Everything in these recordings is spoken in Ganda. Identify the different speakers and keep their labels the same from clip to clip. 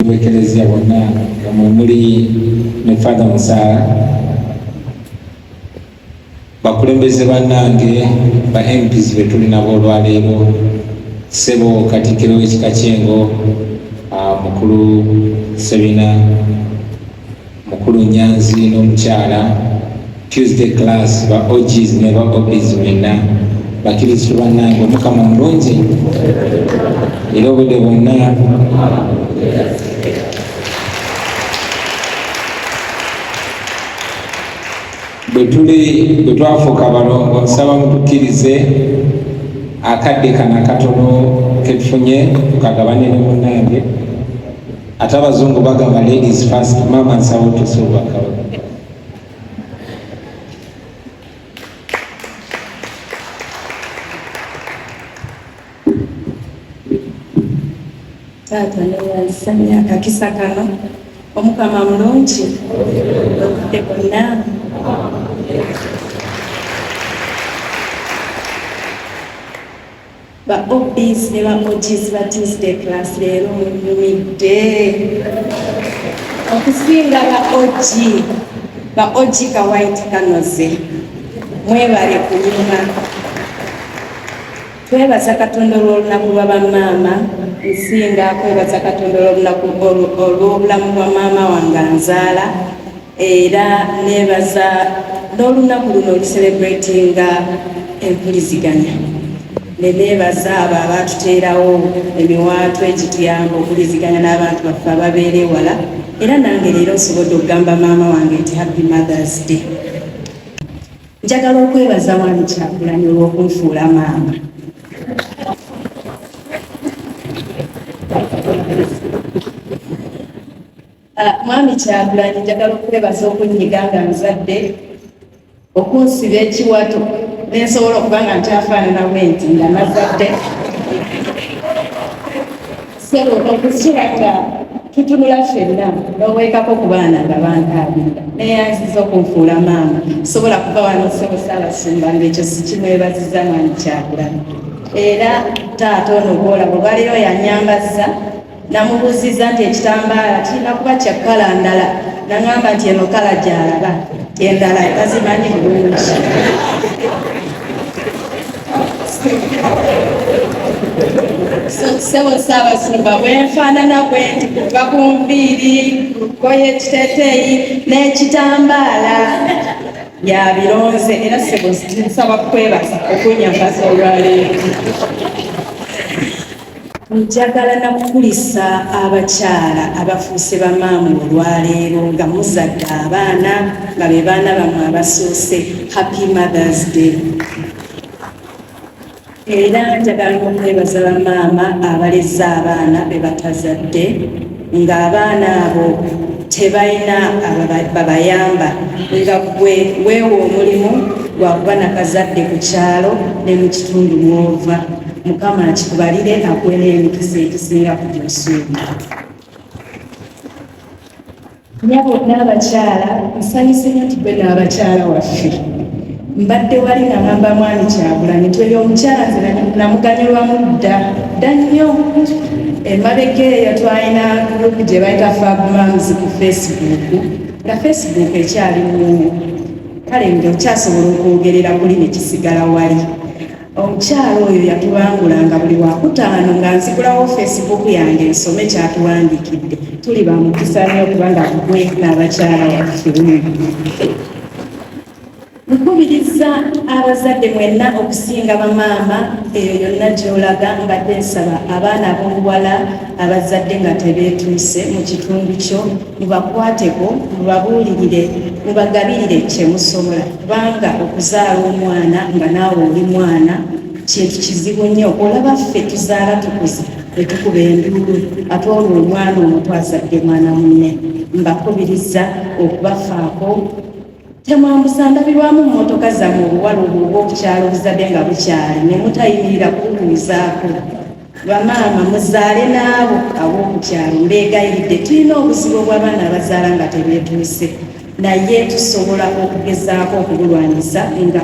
Speaker 1: bwekelezia bonna nga mwemuli ne father musaala bakulembeze bannange ba mps betuli nabo olwaleero sebo katikiro w'ekika kyengo ah, mukulu sebina Mukulu Nyanzi n'omukyala Tuesday class ba OGs ne ba OBs mwenna bakiristu bannange omukama mulungi era obudde bwonna bwetuli bwe twafuuka balongo nsaba mutukkirize akadde kana katono ketufunye tukagabane ne munnange ate abazungu bagamba ladies first maama nsawo tosobwakawo
Speaker 2: taata newansanya akakisa kano omukama mulungi okudde bonna Ba OBs ne ba OGs ba Tuesday class leero munyumidde okusinga ba OG ba OG ka white kanoze mwebale kunyuma twebaza katonda olw'olunaku lwa bamaama nsinga kwebaza katonda olw'olunaku olw'obulamu bwa maama wange anzaala era nebaza n'olunaku luno oluserebratinga empuliziganya neneebaza abo abaatuteerawo emiwaatwa egituyamba okuliziganya n'abantu baffe ababeera ewala era nange leero nsobodde okugamba maama wange nti happy mothers day njagala okwebaza wani kyakulani olw'okunfuula maama Ah, mwami kyagulanyi njagala okwebaza okunyiga nga nzadde okunsiba ekiwato nensobola okuba nga nkyafaanana bwenti nga nazadde sebo okukira nga tutunula fenna noweekako ku baana nga bantaabirira neyanziza okunfuula maama sobola kuba wano sebo saabasumba ngaekyo sikimwebaziza mwami kyagulanyi era taata ono gwolaba olwaleero yanyambaza Namubuuzizza nti ekitambaala kirina kuba kya kkala ndala, naŋamba nti eno kkala gy'alaba, endala tazimanyi bulungi. Ssebo Ssaabasumba, bwe nfaanana bwe nti kuva ku nviiri, ku lugoye, ekiteeteeyi n'ekitambaala yabironze era ssebo nsaba kukwebaza okunnyambaza olwaleero. Njagala na kukulisa abakyala abafuuse bamaamu olwaleero nga muzadde abaana nga be baana bamwe abasoose happy mothers day era njagala okwebaza bamaama abalezza abaana be batazadde ng'abaana abo tebalina babayamba nga gwe weewa omulimu gwa kuba nakazadde ku kyalo ne mu kitundu mwova mukama akikubalire akuwe n'emikisa egisinga ku gyosuubira nyabo n'abakyala nsanyuse nyo nti gwe n'abakyala waffe mbadde wali nagamba mwami kyagulanyi nti oyo omukyala nze namuganyulwamu dda dda nnyo emabega eyo twalina gurupu gye bayita fabmams ku facebook nga facebook ekyali mumu kale nga okyasobola okwogerera kuli nekisigala wali Omukyala oyo yatubangulanga buli wakutaano nga nzigulawo Facebook yange nsome kyatuwandiikidde. Tuli ba mukisa nnyo kubanga gwe n'abakyala waffe. Nkubiriza abazadde mwenna okusinga bamaama eyo yonna gy'olaga mbadde nsaba abaana ab'obuwala abazadde nga tebeetuuse mu kitundu kyo Mubakwateko, mubabuulirire, mubagabirire kye musobola kubanga okuzaala omwana nga naawe oli mwana kintu kizibu nnyo. Olaba ffe tuzaala tukuze ne tukuba enduulu ate olwo omwana omuto azadde mwana munne. Mbakubiriza okubafaako temwambusa ndabirwamu mmotoka zammwe obuwalubu obw'okukyala obuzadde nga bukyali ne mutayimirira kububuuzaako bamaama muzaale n'abo ab'okukyalo mbeegayiridde tulina obuzibu obw'abaana abazaala nga tebeetuuse naye tusobola okugezaako okubulwanyisa nga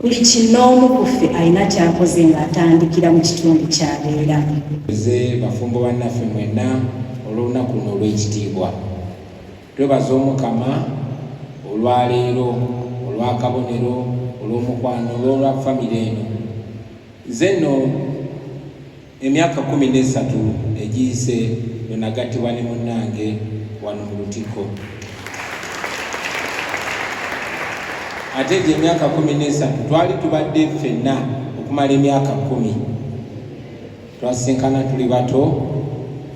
Speaker 2: buli kinoomu ku ffe alina kyakoze ng'atandikira mu
Speaker 1: kitundu
Speaker 2: kyabeera ze bafumbo bannaffe
Speaker 1: mwenna olw'olunaku luno olw'ekitiibwa twebaza omukama olwaleero olwakabonero olwomukwano olwolwa famire eno nze nno emyaka kumi nesatu egiyise lwenagattibwa ne munnange wano mu lutikko ate egyo emyaka kumi nesatu twali tubadde ffenna okumala emyaka kumi twasinkana tuli bato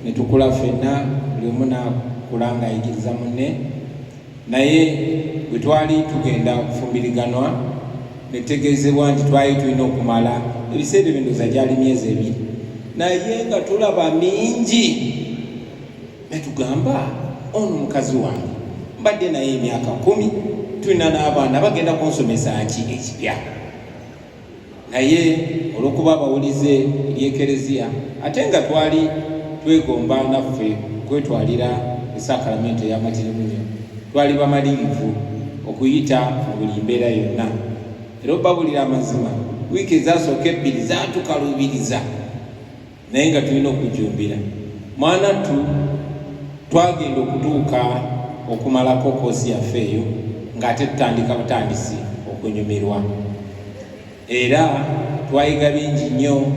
Speaker 1: ne tukula ffenna buli omu n'akula ng'ayigiriza munne naye bwe twali tugenda okufumbiriganwa ne tutegeezebwa nti twali tulina okumala ebiseera ebindoza gyali myezi ebiri naye nga tulaba mingi ne tugamba ono mukazi wange mbadde naye emyaka kumi tulina n'abaana bagenda kunsomesa ki ekipya naye olw'okuba abawulize eri ekereziya ate nga twali twegomba naffe kwetwalira esakalamento ey'amatirimunyo twali bamalirivu okuyita mu buli mbeera yonna era obabulira amazima wiiki ezasooka ebbiri zatukalubiriza naye nga tulina okujumbira mwanattu twagenda okutuuka okumalako koosi yaffe eyo ng'ate tutandika butandisi okunyumirwa era twayiga bingi nnyo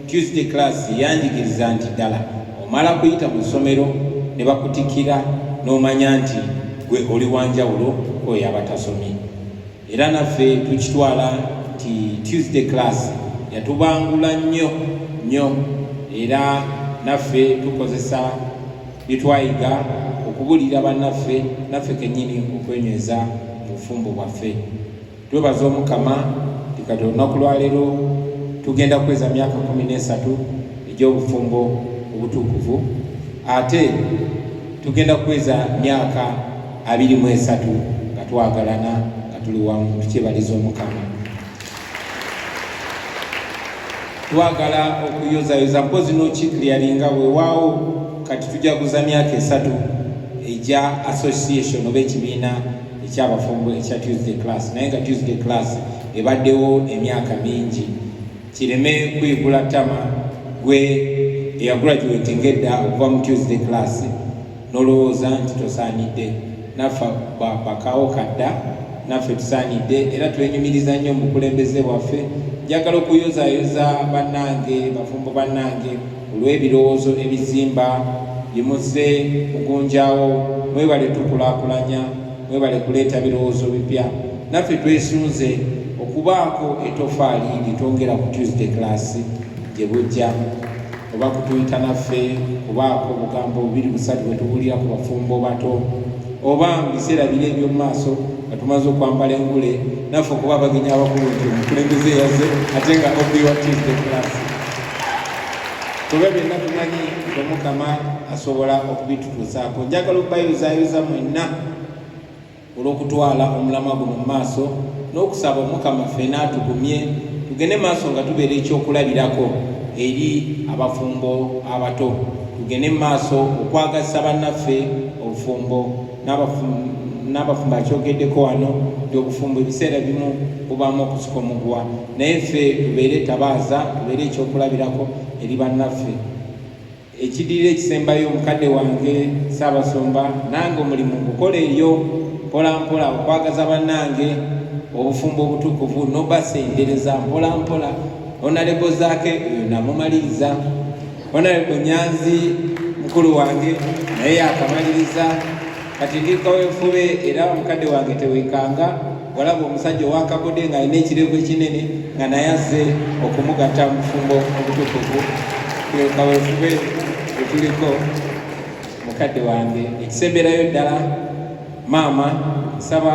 Speaker 1: tuesday class yanjigiriza nti ddala omala kuyita mu ssomero ne bakutikira n'omanya nti gwe oli wanjawulo oyo abatasomye era naffe tukitwala nti tuesday class yatubangula nnyo nnyo era naffe tukozesa byetwayiga okubulira bannaffe naffe kenyini okwenyweza mu bufumbo bwaffe twebaza omukama tikati olunaku lwaleero tugenda kweza myaka kumi n'esatu egy'obufumbo obutuukuvu ate tugenda kweza myaka abiri mu esatu nga twagalana nga tuli wamu tukyebaliza omukama twagala okuyozayoza mpozi nokikliyaringa wewaawo kati tujaguza myaka esatu egya association oba ekibiina ekyabafumbo ekya tuesday class naye nga tuesday class ebaddewo emyaka mingi kireme kuyigula tama gwe eyagraduatinga edda okuva mu tuesday class nolowooza nti tosaanidde naffe bakawo kadda naffe tusaanidde era twenyumiriza nnyo mukulembeze bwaffe njagala okuyozayoza bannange bafumbo bannange olw'ebirowoozo ebizimba byemuze mugunjawo mwebale tukulakulanya mwebale kuleeta birowoozo bipya naffe twesunze okubaako etofaali lyetwongera ku tuesday class gye bujja oba kutuyita naffe kubaako obugambo bubiri busatu bwe tubuulira ku bafumbo bato oba mu biseera biri eby'omu maaso nga tumaze okwambala engule naffe okuba abagenyi abakulu nti omukulembeze yaze ate nga obiwatize kulaasi kuba byonna tumanyi omukama asobola okubitutuusaako njagala okubayozaayoza mwenna olw'okutwala omulamwa guno mu maaso n'okusaba omukama ffena atugumye tugende maaso nga tubeera ekyokulabirako eri abafumbo abato tugende mu maaso okwagazisa bannaffe obufumbo n'abafumbo akyogeddeko wano nti obufumbo ebiseera bimu bubaamu okusika omuguwa naye ffe tubeere tabaaza tubeere ekyokulabirako eri bannaffe Ekidirira ekisembayo omukadde wange Ssaabasumba, nange omulimu ngukola eyo mpolampola okwagaza bannange obufumbo obutukuvu nobasendereza mpolampola onalebo zaake oyo namumaliriza onalebo nyanzi mukulu wange naye yakamaliriza kati ndi kawefube era omukadde wange tewekanga walaba omusajja owakagode nga alina ekirevu ekinene nga naye azze okumugatta mufumbo obutukuvu kawefube etuliko mukadde wange ekisemberayo ddala maama nsaba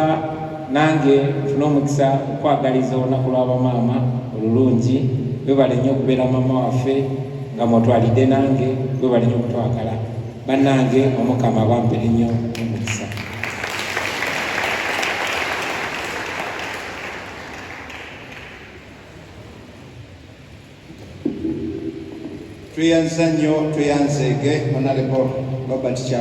Speaker 1: nange nfuna omukisa okwagaliza olunaku lwabamaama olulungi webale nnyo okubeera maama waffe nga mwotwalidde nange webale nnyo okutwagala bannange omukama abampe ennyo omukisa
Speaker 3: tweyanza nnyo tweyanzeege onalebo robert kya